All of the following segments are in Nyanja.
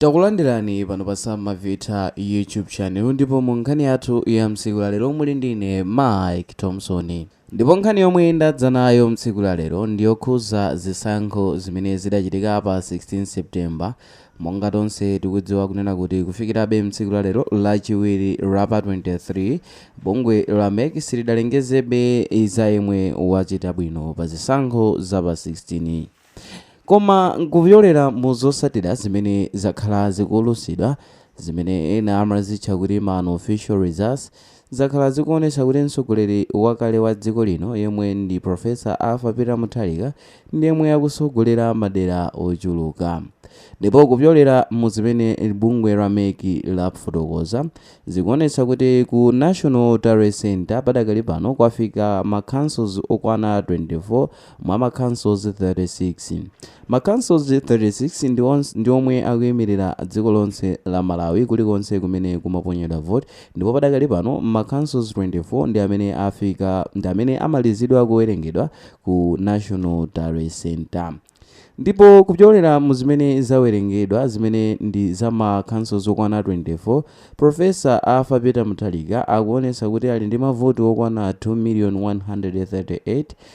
Takulandirani pano pa Sam Mavita YouTube channel ndipo mu nkhani yathu ya mtsiku la lero muli ndi ine Mike Thompson. Ndipo nkhani yomwe ndadza nayo mtsiku la lero ndi yokhuza zisankho zimene zidachitika pa 16 September. Monga tonse tikudziwa kunena kuti kufikirabe mtsiku la lero lachiwiri la pa 23 bungwe la mec silidalengezebe za yemwe wachita bwino pa zisankho za pa 16 Koma kupyolera mu zotsatira zimene zakhala zikuulutsidwa, zimene ena amazitcha kuti ma unofficial results, zakhala zikuonetsa kuti mtsogoleri wakale wa dziko lino yemwe ndi Professor Arthur Peter Mutharika ndiyemwe akutsogolera madera ochuluka. Ndipo kupyolera mu zimene bungwe la mec lafotokoza, zikuonetsa kuti ku National Tally Centre padakali pano kwafika ma councils okwana 24, mwa ma councils 36. Ma councils 36 ndi omwe akuimirira dziko lonse la Malawi kulikonse kumene kumaponyedwa vote ndipo padakali pano ma councils 24 ndi amene afika ndi amene amalizidwa kuwerengedwa ku National Tally Centre. Ndipo kupyolera mu zimene zawerengedwa zimene ndi za ma councils okwana 24, Professor Arthur Peter Mutharika akuonetsa kuti ali ndi mavoti okwana 2,138,000.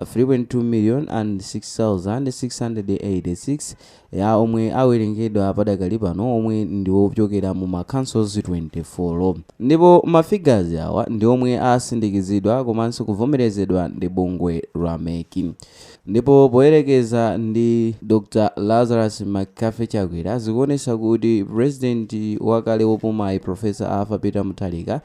3.2,006,686 ya omwe awerengedwa padakali pano omwe ndi ochokera mu ma councils 24 ndipo ma figures awa ndi omwe asindikizidwa komanso kuvomerezedwa ndi bungwe la mec ndipo poyerekeza ndi Dr Lazarus McCarthy Chakwera zikuonesa kuti president wakale wopumayi Professor Arthur Peter Mutharika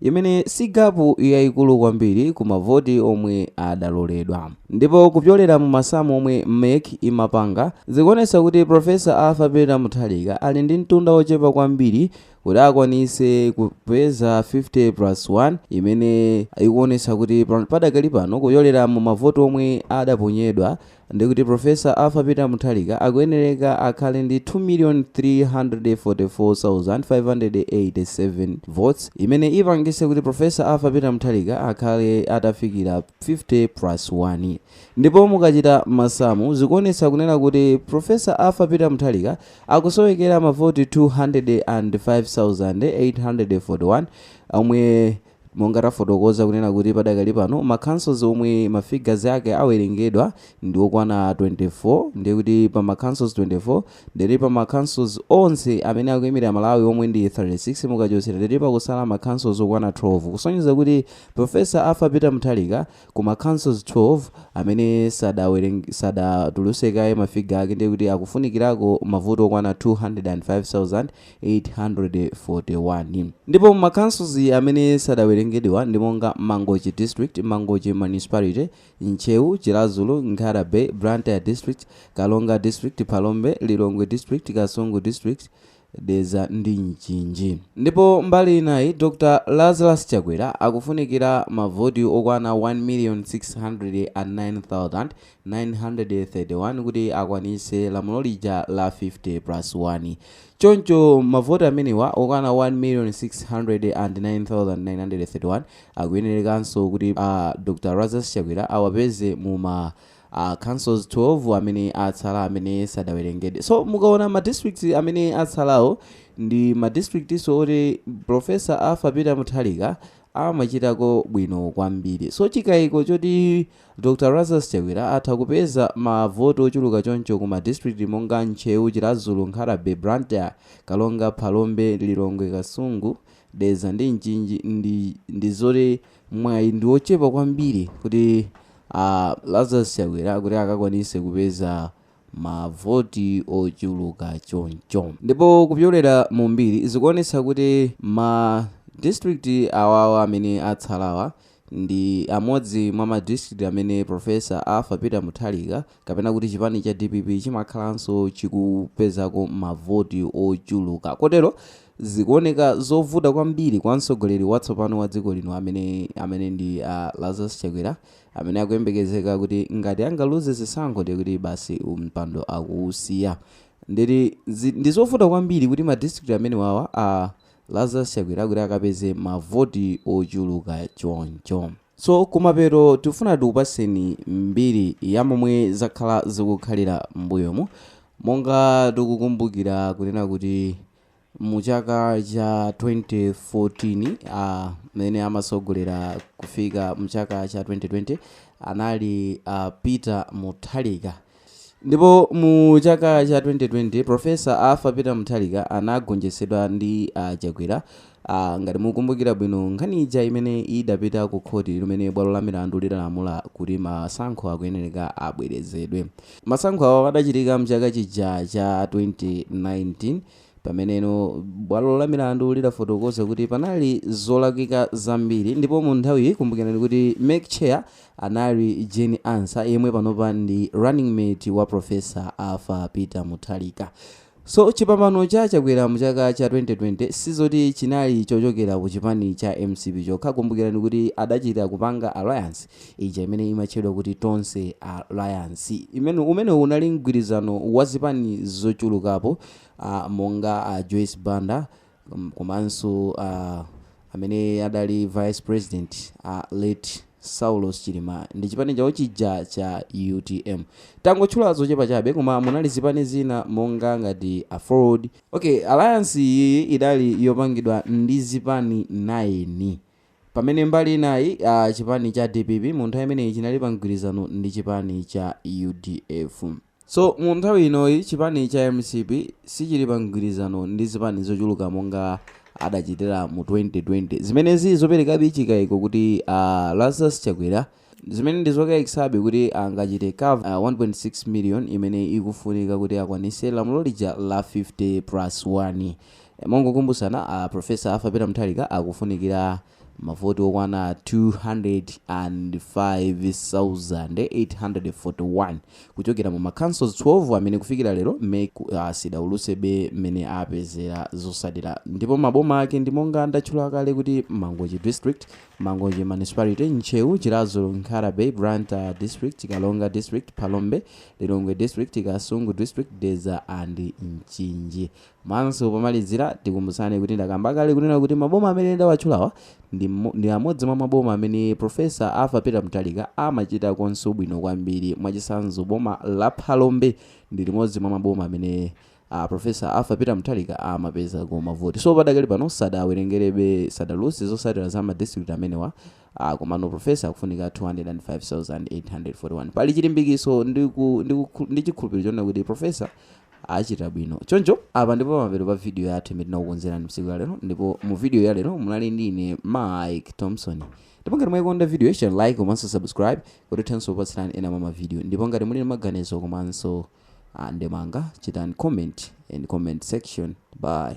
imene si gapu yayikulu kwambiri ku mavoti omwe adaloledwa. Ndipo kupyolera mu masamu omwe mec imapanga, zikuonetsa kuti Prof. Arthur Peter Mutharika ali ndi mtunda wochepa kwambiri kuti akwanitse kupeza 50 plus 1 imene ikuonetsa kuti padakali pano kupyolera mu mavoti omwe adaponyedwa, ndikuti Professor Arthur Peter Mutharika akuyenereka akhale ndi 2,344,587 votes imene ipangise kuti Professor Arthur Peter Mutharika akhale atafikira 50 plus 1 ndipo mukachita masamu zikuonetsa kunena kuti Professor Arthur Peter Mutharika akusowekera mavoti 205,841 omwe Monga tafotokoza kunena kuti padakali pano ma councils omwe ma figures ake awerengedwa ndi okwana 24 ndiye kuti pa ma councils 24 ndiye kuti pa ma councils onse amene akuimira Malawi omwe ndi 36 mukachotsera ndiye kuti pakusala ma councils okwana 12 kusonyeza kuti Prof. Arthur Peter Mutharika ku ma councils 12 amene sadatulutse kaye ma figure ake ndiye kuti akufunikirako mavoti okwana 205,000 841. Ndipo ma councils amene sadawerengedwewa ndi monga, Mangochi District, Mangochi Municipality, Ntcheu, Chiladzulu, Nkhata Bay, Blantyre District, Karonga District, Phalombe, Lilongwe District, Kasungu District, Dedza ndi Mchinji. Ndipo mbali inayi Dr Lazarus Chakwera akufunikira ma voti okwana 1,609,000 931 kuti akwanitse lamulo lija la 50 plus 1. Choncho mavoti amenewa okwana 1,609,931 akuyenerekanso kuti Dr Lazarus Chakwera awapeze mu ma councils 12 amene atsala amene sadawerengedwe. So mukaona ma districts amene atsalawo ndi ma districtso oti Professor Arthur Peter Mutharika amachitako bwino kwambiri. So chikaiko choti. Dr Lazarus Chakwera atha kupeza ma voti ochuluka choncho ku ma district monga Ntcheu, Chiladzulu, Nkhatabay, Blantyre, Karonga, Phalombe, Lilongwe, Kasungu, Dedza ndi Mchinji ndi zoti mwayi ndi ochepa kwambiri kuti a Lazarus Chakwera kuti akakwanise kupeza ma voti ochuluka choncho. Ndipo kupyolera mu mbiri zikuonetsa kuti ma district awawa amene atsalawa ndi amodzi mwa ma district amene Prof. Arthur Peter Mutharika kapena kuti chipani cha dpp chimakhalanso chikupezako ma voti ochuluka kotero zikuoneka zovuta kwambiri kwa mtsogoleri watsopano wa dziko lino amene amene ndi a Lazarus Chakwera Amene akuyembekezeka kuti ngati angaluze zisankho ndiye kuti basi mpando akuwusiya. Ndiye kuti ndi zovuta kwambiri kuti ma district amenewawa a Lazarus Chakwera kuti akapeze mavoti ochuluka choncho. So kumapeto tifuna tikupaseni mbiri ya momwe zakhala zikukhalira m'mbuyomu monga tikukumbukira kunena kuti Mu chaka cha 2014 amene amatsogolera kufika mchaka cha 2020 anali a Peter Mutharika ndipo mu chaka cha 2020 Prof. Arthur Peter Mutharika anagonjetsedwa ndi Chakwera Aaa ngati mukukumbukira bwino nkhani ija imene idapita ku khoti limene bwalo la milandu lidalamula kuti masankho akuyenereka abwerezedwe. Masankho awo adachitika mchaka chija cha 2019 pameneno bwalo la milandu lidafotokoza kuti panali zolakwika zambiri ndipo mu nthawiyi kumbukirani kuti mec chair anali Jane Ansah yemwe panopa ndi running mate wa Professor Arthur Peter Mutharika. So chipambano cha Chakwera mu chaka cha 2020 sizoti chinali chochokera ku chipani cha mcp chokha, kumbukirani kuti adachita kupanga alliance ija imene imatchedwa kuti Tonse Alliance imene umene unali mgwirizano wa zipani zochulukapo monga a Joyce Banda, komanso a amene adali vice president a late saulos chilima ndi chipani chawo chija cha utm tangotchula zochepa chabe koma munali zipani zina monga ngati aford okay alliance iyi idali yopangidwa ndi zipani 9 pamene mbali inayi chipani cha dpp mu nthawi imeneyi chinali pa mgwirizano ndi chipani cha udf So mu nthawi inoyi chipani cha mcp sichili pa mgwirizano ndi zipani zochuluka monga adachitira mu 2020 zimene zi zopelekabe chikaiko kuti Lazarus Chakwera zimene ndi zokaikisabe kuti angachite cover 1.6 million imene ikufunika kuti akwanise lamulo lija la 50 plus 1. Mongokumbusana a Professor Arthur Peter Mutharika akufunikira Mavoti okwana 205,841 kuchokera mu ma councils 12 amene kufikira lero mec sidaulutsebe mmene apezera zotsatira ndipo maboma ake ndi monga ndatchula kale kuti Mangochi District, Mangochi Municipality, Ntcheu, Chiradzulu, Nkhatabay, Blantyre District, Karonga District, Phalombe, Lilongwe District, Kasungu District, Dedza and Mchinji. Komanso pomalizira tikumbutsane kuti ndakamba kale kunena kuti maboma amene ndawatchulawa ndi amodzi mwa maboma amene Professor Arthur Peter Mutharika amachitakonso bwino kwambiri. Mwachitsanzo boma la Phalombe ndi limodzi mwa maboma amene Professor Arthur Peter Mutharika amapezako mavoti. So padakali pano sadawerengerebe, sadaulutse zotsatira za ma district amenewa ah, komano Professor akufunika 205,841. Pali chilimbikitso ndi chikhulupiriro chonena kuti Professor achita bwino choncho apa ndi po pamapeto pa video yathu imene tinakukonzerani mtsiku la lero ndipo mu video ya lero munali ndi ine mike thompson ndipo ngati mwayikonda video yi siyani like komanso subscribe kuti tithenso kupatsirani ena mwa mavideo ndipo ngati muli ndi maganizo komanso ah, ndemanga chitani comment in comment section bye